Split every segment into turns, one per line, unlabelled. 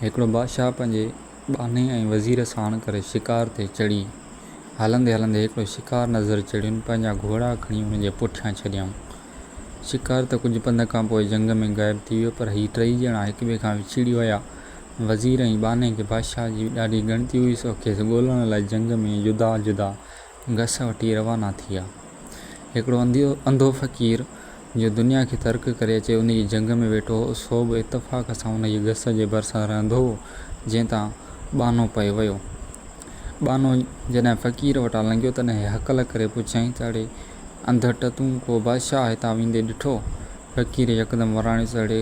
هڪڙو بادشاهه پنهنجي ٻانهي ۽ وزير ساڻ ڪري شڪار تي چڙهي. هلندي هلندي هڪڙو شڪار نظر چڙهين پنهنجا گهوڙا کڻي ان جي پٺيان ڇڏيائون. شڪار ته ڪجهه پنڌ کان پوء جهنگ ۾ غائب ٿي ويو پر هي ٽئي ڄڻا هڪ ٻئي کان وڇڙي ويا. وزير ۽ ٻانهي کي بادشاهه جي ڏاڍي ڳڻتي هئي سو کيس ڳولڻ لاء جهنگ ۾ جدا جدا گس وٺي روانا ٿيا. هڪڙو انڌيو انڌو فقير جو دنيا کي ترڪ ڪري اچي ان جي جهنگ ۾ ويٺو هو، سو به اتفاق سان ان جي گس جي ڀرسان رهندو هو، جنهن تان ٻانهو پئي ويو. ٻانهو جڏهن فقير وٽان لنگهيو، تڏهن هيء هڪل ڪري پڇيائين ته اڙي انڌٽ تون ڪو بادشاهه هتان ويندي ڏٺو؟ فقير يڪدم وراڻيس اڙي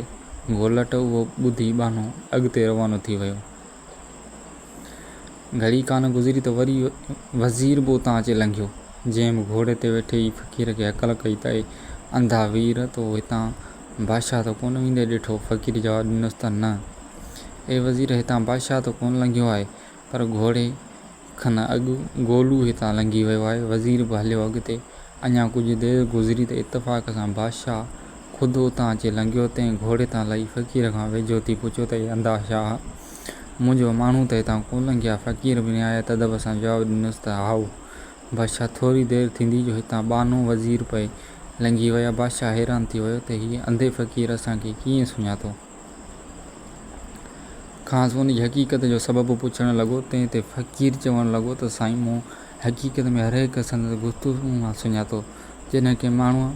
گولٽ اهو ٻڌي ٻانهو اڳتي روانو ٿي ويو. گهڙي ڪانه گذري ته وري وزير به اتان اچي لنگهيو، جنهن به گهوڙي تي ويٺي ئي فقير کي هڪل ڪئي ته اي انڌا وير! تو هتان بادشاهه ته ڪونه ويندي ڏٺو؟ فقير جواب ڏنس ته نه اي وزير! هتان بادشاهه ته ڪونه لنگهيو آهي، پر گهوڙي کن اڳ گولو هتان لنگهي ويو آهي. وزير به هليو اڳتي. اڃا ڪجهه دير گذري ته اتفاق سان بادشاهه خود اتان اچي لنگهيو. تنهن گهوڙي تان لهي فقير کان ويجهو ٿي پڇيو ته اي انڌا شاهه! منهنجو ماڻهو ته هتان ڪو لنگهيا؟ فقير به نهايت ادب سان جواب ڏنس ته هائو! بادشاهه ٿوري دير ٿيندي جو هتان ٻانهو، وزير پئي لنگهي ويا. بادشاهه حيران ٿي ويو ته هيء انڌي فقير اسان کي ڪيئن سڃاتو؟ کانئس ان جي حقيقت جو سبب پڇڻ لڳو، تنهن تي فقير چوڻ لڳو ته سائين مون حقيقت ۾ هرهڪ سندس گفتگو مان سڃاتو. جڏهن ڪنهن ماڻهوء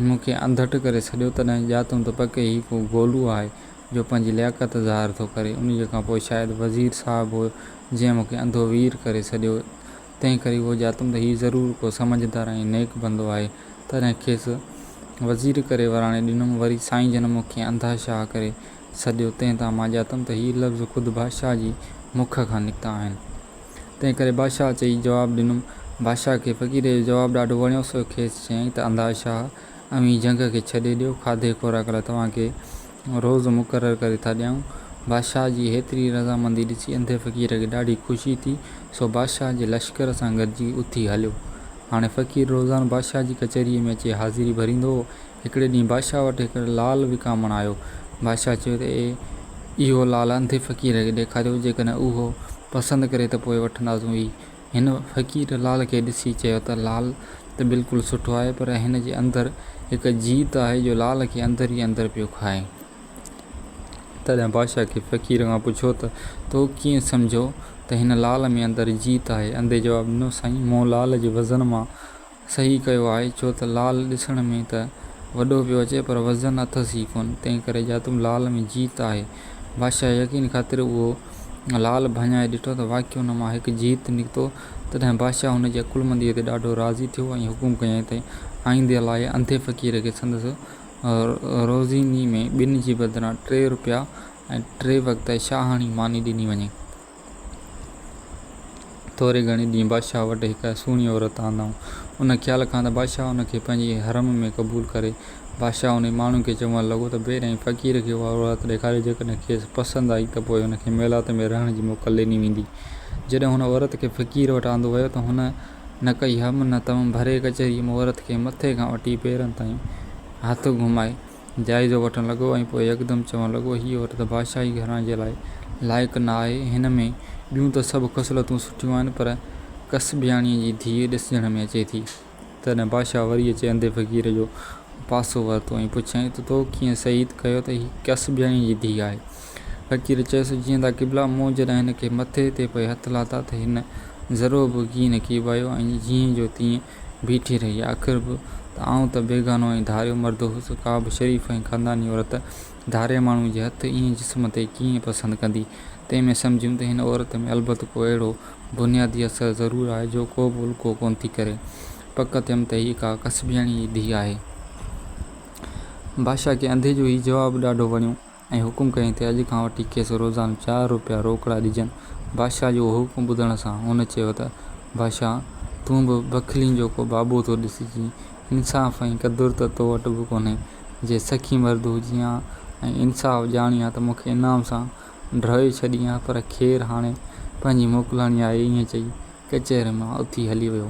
مون کي انڌٽ ڪري سڏيو، تڏهن ڄاتم ته پڪي هي ڪو گولو آهي، جو پنهنجي لياقت ظاهر ٿو ڪري. انهيء کان پوء شايد وزير صاحب هو، جنهن مون کي انڌو وير ڪري سڏيو. تنهن ڪري اهو ڄاتم ته هي ضرور ڪو سمجهدار ۽ نيڪ بندو آهي. تڏهن کيس وزير ڪري وراڻي ڏنم. وري سائين جن مون کي انڌا شاهه ڪري سڏيو، تنهن تان مان ڄاتم ته هي لفظ خود بادشاهه جي مک کان نڪتا آهن. تنهن ڪري بادشاهه چئي جواب ڏنم. بادشاهه کي فقير جو جواب ڏاڍو وڻيو، سو کيس چيائين ته انڌا شاهه، اوهين جهنگ کي ڇڏي ڏيو، کاڌي خوراڪ لاء توهان کي روز مقرر ڪري ٿا ڏيائون. بادشاهه جي هيتري رضامندي ڏسي انڌي فقير کي ڏاڍي خوشي ٿي، سو بادشاهه جي لشڪر سان گڏجي اٿي هليو. هاڻي فقير روزانو بادشاهه جي ڪچهريء ۾ اچي حاضري ڀريندو هو. هڪڙي ڏينهن بادشاهه وٽ هڪ لعل وڪامڻ آيو. بادشاهه چيو ته اي اهو لعل انڌي فقير کي ڏيکاريو، جيڪڏهن اهو پسند ڪري ته پوء وٺنداسون ئي، هن فقير لال کي ڏسي چيو ته لال ته بلڪل سٺو آهي پر هن جي اندر هڪ جيت آهي جو لال کي اندر ئي اندر پيو کائي. تڏهن بادشاهه کي فقير کان پڇيو ته تو ڪيئن سمجهيو ته هن لال ۾ اندر جيت آهي؟ انڌي جواب ڏنو سائين مون لال جي وزن مان صحيح ڪيو آهي ڇو ته لال ڏسڻ ۾ ته وڏو پيو اچي پر وزن اٿس ئي ڪونه تنهن ڪري جاتم لال ۾ جيت آهي. بادشاهه يقين خاطر اهو لال ڀڃائي ڏٺو ته واقعي ان مان هڪ جيت نڪتو. تڏهن بادشاهه هن جي عقلمنديء تي ڏاڍو راضي ٿيو ۽ حڪم ڪيائين ته آئندي لاء انڌي فقير کي سندس روزيني ۾ ٻن جي بدران ٽي روپيا ۽ ٽي وقت شاهاڻي ماني ڏني وڃي. ٿوري گهڻي ڏينهن بادشاهه وٽ هڪ سهڻي عورت آندائون. ان خيال کان ته بادشاهه ان کي پنهنجي حرم ۾ قبول ڪري. بادشاهه انهي ماڻهو کي چوڻ لڳو ته بير ۽ فقير کي اها عورت ڏيکاريو جيڪڏهن کيس پسند آئي ته پوء هن کي ميلات ۾ رهڻ جي موڪل ڏني ويندي. جڏهن هن عورت کي فقير وٽ آندو ويو ته هن نه ڪئي هم نه تم ڀري ڪچهري ۾ عورت کي مٿي کان وٺي پيرن تائين هٿ گهمائي. جائزو وٺڻ لڳو ۽ پوء يڪدم چوڻ لڳو، هيء عورت بادشاهي گهراڻي جي لاء لائق نه آهي. هن ۾ ٻيون ته سڀ خصلتون سٺيون آهن، پر ڪسبياڻيء جي ڌيء ڏسجڻ ۾ اچي ٿي. تڏهن بادشاهه وري اچي انڌي فقير جو پاسو ورتو ۽ پڇيائين ته تو ڪيئن شهيد ڪيو ته هيء ڪسبياڻيء جي ڌيء آهي؟ فقير چيس، جيئندا قبلا! مون جڏهن هن کي مٿي تي پئي هٿ لاٿا ته هن ذرو به ڪين ڪيٻايو ۽ جيئن جو تيئن بيٺي رهي آخر به ته آئون ته بيگانو ۽ ڌاريو مرد هوس، ڪا به شريف ۽ خانداني عورت ڌارئي ماڻهوء جي هٿ ائين جسم تي ڪيئن پسند ڪندي؟ تنهن ۾ سمجهيم ته هن عورت ۾ البت ڪو اهڙو بنيادي اثر ضرور آهي جو ڪو به الڪو ڪونه ٿي ڪري. پڪ ٿيم ته هيء ڪا ڪسبياڻيء جي ڌيء آهي. بادشاهه کي انڌي جو هيء جواب ڏاڍو وڻيو. ۽ حڪم ڪيائين ته اڄ کان وٺي کيس روزانو چار روپيا روڪڙا ڏجن. بادشاهه جو اهو حڪم ٻڌڻ سان هن چيو ته بادشاهه! تون به بخيلين جو ڪو بابو ٿو ڏسجين. انصاف ۽ قدر ته تو وٽ به ڪونهي. جي سخي مرد هجين ها ۽ انصاف ڄاڻين ها ته مون کي انعام سان ڍوئي ڇڏين ها پر خير هاڻي پنهنجي موڪلهاڻي آهي. ائين چئي ڪچهرين مان اٿي هلي ويو.